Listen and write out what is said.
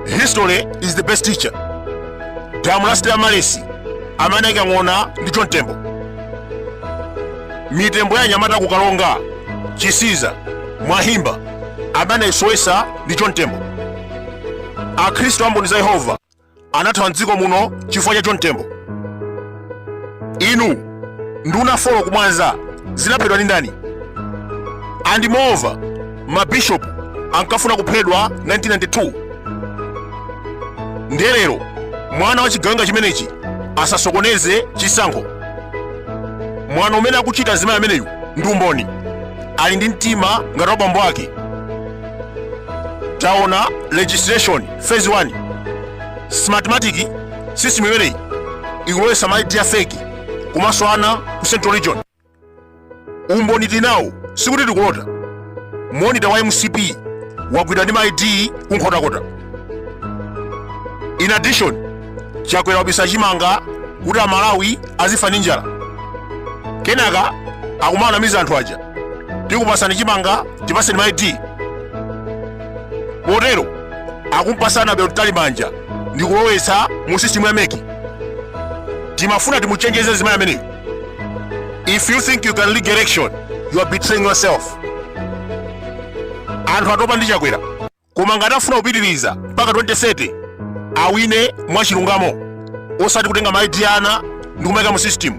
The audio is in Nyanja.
history is the best teacher damu la stella maris amene anaika ng'ona ndi john tembo mitembo ya anyamata ku karonga chisiza mwahimba amene anaisowesa ndi john tembo akhristu a mboni za yehova anathawa mdziko muno chifukwa cha john tembo inu nduna folo kumwanza zinaphedwa ndi ndani and moreover mabishop ankafuna kuphedwa 1992 ndiye lero mwana wa chigawenga chimenechi asasokoneze chisankho mwano umene akuchita mzimayi ameneyu ndi umboni ali ndi mtima ngati wabambo ake taona registration phase 1 smartmatic system imeneyi ikulowesa ma id a fake komanso ana ku central region umboni tinawo sikuti tikulota monita wa mcp wagwidwa ndi ma id kunkhotakota in addition chakwera wabisa chimanga kuti amalawi azifa ndi njala kenaka akumanamiza anthu aja tikupasani chimanga tipaseni ma id potero akumpasa annabel mtalimanja ndi kulowetsa mu sisitimu ya mec timafuna timuchenjeze zimayi ameneyo if you think you can rig election you are betraying yourself anthu atopa ndi chakwera koma ngati afuna kupitiriza mpaka 2030 awine mwachilungamo osati kutenga ma id a ana ndi kumayika mu sisitimu